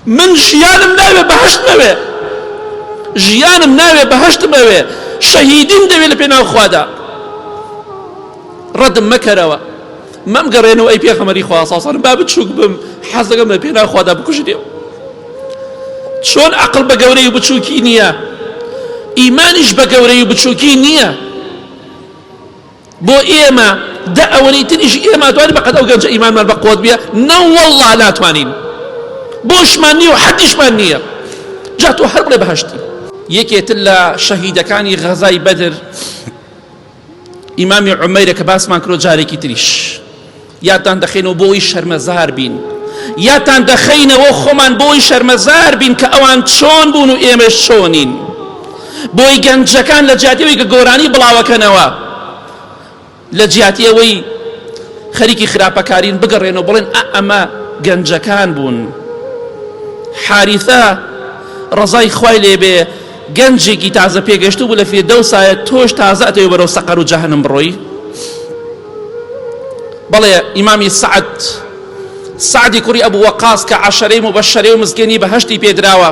من ژیانم ناوێ بەهەشتم ئەوێ ژیانم ناوێ بەهەشتم ئەوێ شەهیدیم دەوێ لە پێناو خوادا ڕەدم مەکەرەوە مەم گەڕێن و ئەی پێخەمەری خواساسان با بچووک بم حەز دەگەم لە پێناو خوادا بکوژرێم چۆن عقل بە گەورەی بچووکی نییە ئیمانیش بە گەورەی بچووکی نییە بۆ ئێمە دە ئەوەنەی تریش ئێمە توانی بەقەد ئەو گەنجە ئیمانمان بە قوت بیە نە والله ناتوانین بۆشمان نییە و حەدیشمان نییە جا تۆ هەر بڵێ بەهشتی یەکێتر لە شەهیدەکانی غەزای بەدر ئیمامی عمەیرە کە باسمان کرۆ جارێکی تریش یادتان دەخەینەوە بۆ ئەوەی شەرمەزار بین. یادتان دەخەینەوە خۆمان بۆ ئەوەی شەرمەزار بین کە ئەوان چۆن بوون و ئێمەش چۆنین. بۆی گەنجەکان لە جیاتی ئەوەی کە گۆرانی بڵاوەکەنەوە لە جیاتی ئەوەی خەریکی خراپەکارین بگەڕێن و بڵێن ئە ئەمە گەنجەکان بوون. حاریثە ڕەزای خوای لێبێ گەنجێکی تازە پێگەشتوو بوو لە فیردەوسایە تۆش تازە ئەتەوێ بەرەو سەقەر و جەهەنم بڕۆی. بەڵێ ئیمامی سعد سعدی کوڕی ئەبوو وەقاس کە عشرەی مبەشرەی و مزگێنی بەهشتی پێدراوە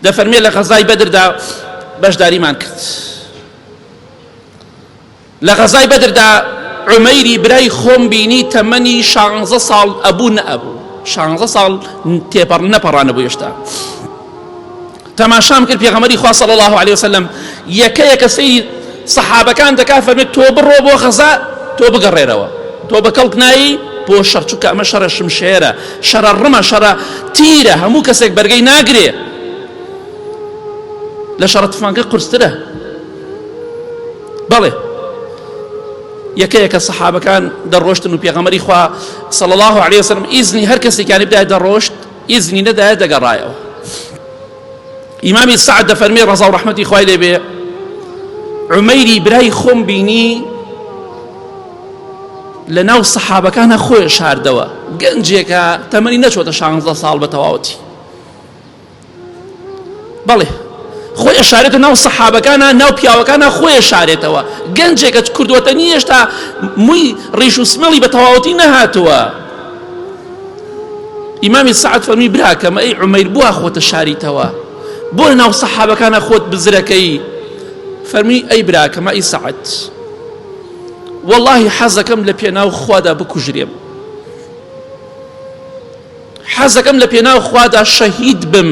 دەفەرمێ لە غەزای بەدردا بەشداریمان کرد لە غەزای بەدردا عمەیری برای خۆم بینی تەمەنی شانزە ساڵ ئەبوو نەئەبوو شانزە ساڵ تێپەڕ نەپەڕانە بۆ هێشتا تەماشام کرد پێغەمەری خوا صلی الله علیه وسلم یەکە یەکە سەیری سەحابەکان دەکا فەرمێت تۆ بڕۆ بۆ غەزا تۆ بگەڕێرەوە تۆ بە کەڵک نایی بۆ شەڕ چونکە ئەمە شەڕە شمشێرە شەڕە ڕمە شەڕە تیرە هەموو کەسێک بەرگەی ناگرێ لە شەڕە تفانگە قرسترە بەڵێ یەکە یەکە سەحابەکان دەڕۆشتن و پێغەمەری خوا صلی الله عليه وسلم ئیزنی هەر کەسێکیانی بدای دەڕۆشت ئیزنی نەدایە دەگەڕایەوە. ئیمامی سەعد دەفەرمێ ڕەزا و ڕەحمەتی خوای لێ بێ عمەیری برای خۆم بینی لە ناو سەحابەکانە خۆی شاردەوە گەنجێکە تەمەنی نەچۆتە شانزدە ساڵ بە تەواوەتی بەڵێ خۆی ئەشارێتە ناو سەحابەکانە ناو پیاوەکانە خۆی ئەشارێتەوە گەنجێکە کردوەتە نی هێشتا مووی ڕیش و سمێڵی بە تەواوەتی نەهاتووە ئیمامی سعات فەرمی براکەمە ئەی عمەیر بووە خۆتە شاریتەوە بۆ ناو سەحابەکانە خۆت بزرەکەی فەرمی ئەی براکەمە ئەی سعات واللهی حەزەکەم لە پێناو خوادا بکوژرێم حەزەکەم لە پێناو خوادا شەهید بم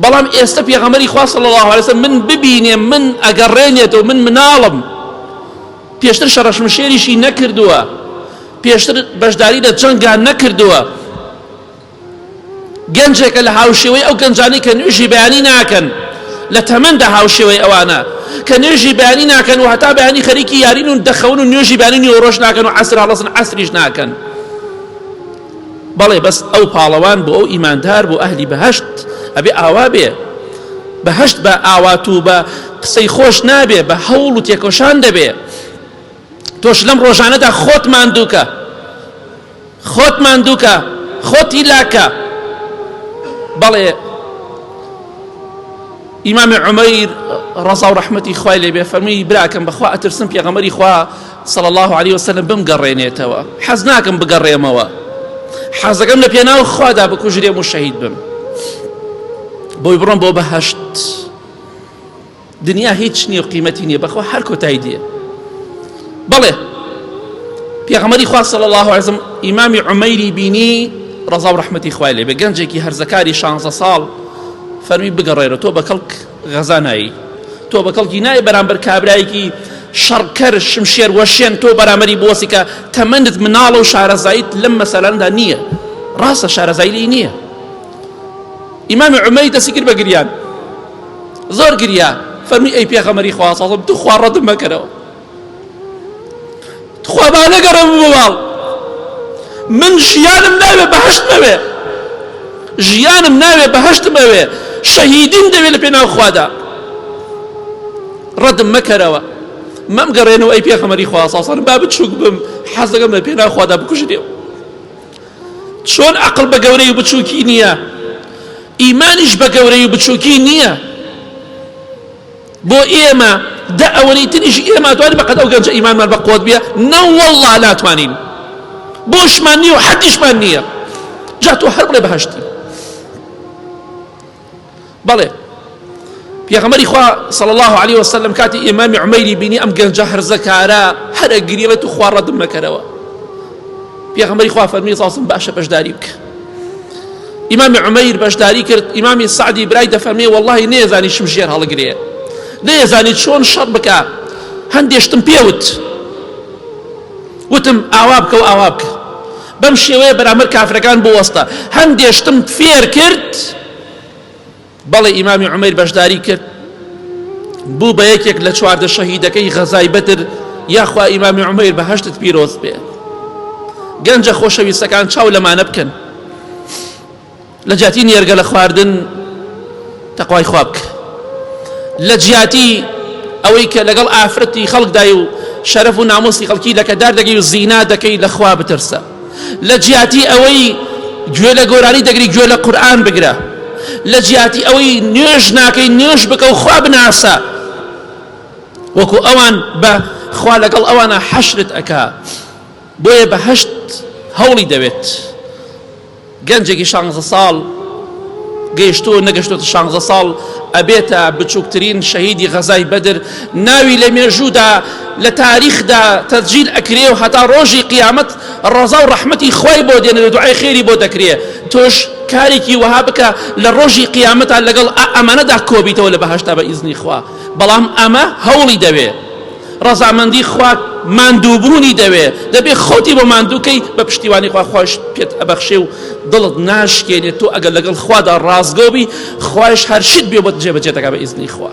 بەڵام ئێستا پێغەمەری خوا صلی الله علیه وسلم من ببینێ من ئەگەڕێنێتەوە من مناڵم پێشتر شەڕەشمشێریشی نەکردووە پێشتر بەشداری لە جەنگان نەکردووە گەنجێکە لە هاوشێوەی ئەو گەنجانی کە نوێژی بەیانی ناکەن لە تەمەندا هاوشێوەی ئەوانە کە نوێژی بەیانی ناکەن و هەتا بەیانی خەریکی یارین و دەخەون و نوێژی بەیانی نیوەڕۆژ ناکەن و عەسر هەڵەسن عەسریش ناکەن بەڵێ بەس ئەو پاڵەوان بۆ ئەو ئیماندار بۆ ئەهلی بەهشت ئەبێ ئاوا بێ بەهشت بە ئاوات و بە قسەی خۆش نابێ بە هەوڵ و تێکۆشان دەبێ تۆش لەم ڕۆژانەدا خۆت ماندووکە خۆت ماندووکە خۆتی لاکە بەڵێ ئیمامی عمەیر ڕزا و ڕحمەتی خوای لێبێ فەرمی براکەم بەخوا ئەترسم پێغەمەری خوا صلی اللە علیە وسلم بمگەڕێنێتەوە حەز ناکەم بگەڕێمەوە حەزەکەم لە پێناو خوادا بکوژرێم و شەهید بم بۆی بڕۆم بۆ بەهشت دنیا هیچ نییە و قیمەتی نییە بەخوا هەر کۆتای دێ بەڵێ پێغەمەری خوا صلی الله علیه وسلم ئیمامی عمەیری بینی ڕەزا و ڕەحمەتی خوای لێ بێ گەنجێکی هەرزەکاری 16 ساڵ فەرمی بگەڕێرە تۆ بە کەڵک غەزا نایی تۆ بە کەڵکی نای بەرامبەر کابرایەکی شەڕکەر شمشێر وەشێن تۆ بەرامەری بۆسی کە تەمەندت مناڵە و شارەزایت لەم مەسەلاندا نییە ڕاستە شارەزای لی نییە ئیمامی عمەی دەستی کرد بە گریان زۆر گریا فەرمی ئەی پێغەمەری خواسەڵم تو خواڕەتم مەکەرەوە تخوا با نەگەڕێم بۆ ماڵ من ژیانم ناوێ بەهشت نەوێ ژیانم ناوێ بەهشتم ئەوێ شەهیدیم دەوێت لە پێناو خوادا ڕەدم مەکەرەوە مەم گەڕێنەوە ئەی پێخەمەری خواساسان با بچووک بم حەزەکەم لە پێناو خوادا بکوژێ چۆن عقل بە گەورەی بچووکی نییە ئیمانیش بە گەورەی بچووکی نییە بۆ ئێمە دە ئەوەنەی تریش ئێمە توانی بەقەد ئەو گەنجە ئیمانمان بە قوت بیە نە واللە ناتوانین بۆشمان نییە و حەدیشمان نییە جا تۆ هەر بڵێ بەهشتی بەڵێ پێغەمەری خوا صلى الله عليه وسلم کاتی ئێمامی عمەیری بینی ئەم گەنجە هەرزەکارە هەرە گریڵێت و خوا ڕەدم نەکەرەوە پێغەمەری خوا فەرمی ساسم باشە بەشداری بکە ئیمامی عمەیر بەشداری کرد ئیمامی سعدی برای دەفەرمێ واللهی نێزانی شم ژێر هەڵگرێ نێزانی چۆن شەڕ بکە هەندێشتم پێوت وتم ئاوا بکە و ئاوا بکە بەم شێوەیە بەرامەر کافرەکان بوەستە هەندێشتم فێر کرد بەڵێ ئیمامی عومەیر بەشداری کرد بوو بە یەکێک لە چواردە شەهیدەکەی غەزای بەدر یاخوا ئیمامی عومەیر بە هەشتت پیرۆز بێ گەنجە خۆشەویستەکان چاو لەمانە بکەن لە جیاتی نێرگە لە خواردن تەخوای خواب کرد لە جیاتی ئەوەی کە لەگەڵ ئافرەتی خەڵکدای و شەرەف و نامۆسی خەڵکی لەکەدار دەگەی و زینا دەکەی لەخوا بترسە لە جیاتی ئەوەی گوێ لە گۆرانی دەگری گوێ لە قورآن بگرە لە جیاتی ئەوەی نوێژ ناکەی نوێژ بکە و خوا بناسە وەکو ئەوان بە خوا لەگەڵ ئەوانە حەشرت ئەکا بۆیە بە هەشت هەوڵی دەوێت گەنجێکی شانزە ساڵ گەیشتووە و نەگەشتوەتە شانزە ساڵ ئەبێتە بچووکترین شەهیدی غەزای بەدر ناوی لە مێژوودا لە تاریخدا تەسجیل ئەکرێ و هەتا ڕۆژی قیامەت ڕەزا و ڕەحمەتی خوای بۆ دێنێ و دوعای خێری بۆ دەکرێ تۆش کارێکی وەها بکە لە ڕۆژی قیامەتا لەگەڵ ئەمانەدا کۆبیتەوە لە بەهەشتا بە ئیزنی خوا بەڵام ئەمە هەوڵی دەوێ ڕەزامەندی خوا ماندووبوونی دەوێ، دەبێ خۆتی بۆ ماندوو کەی بە پشتیوانی خوا، خوایش پێت ئەبەخشێ و دڵت ناشکێنێ، تۆ ئەگەر لەگەڵ خوادا ڕاستگۆ بی خوایش هەر شت بێ بۆت جێبەجێ دەکا بە ئیزنی خوا.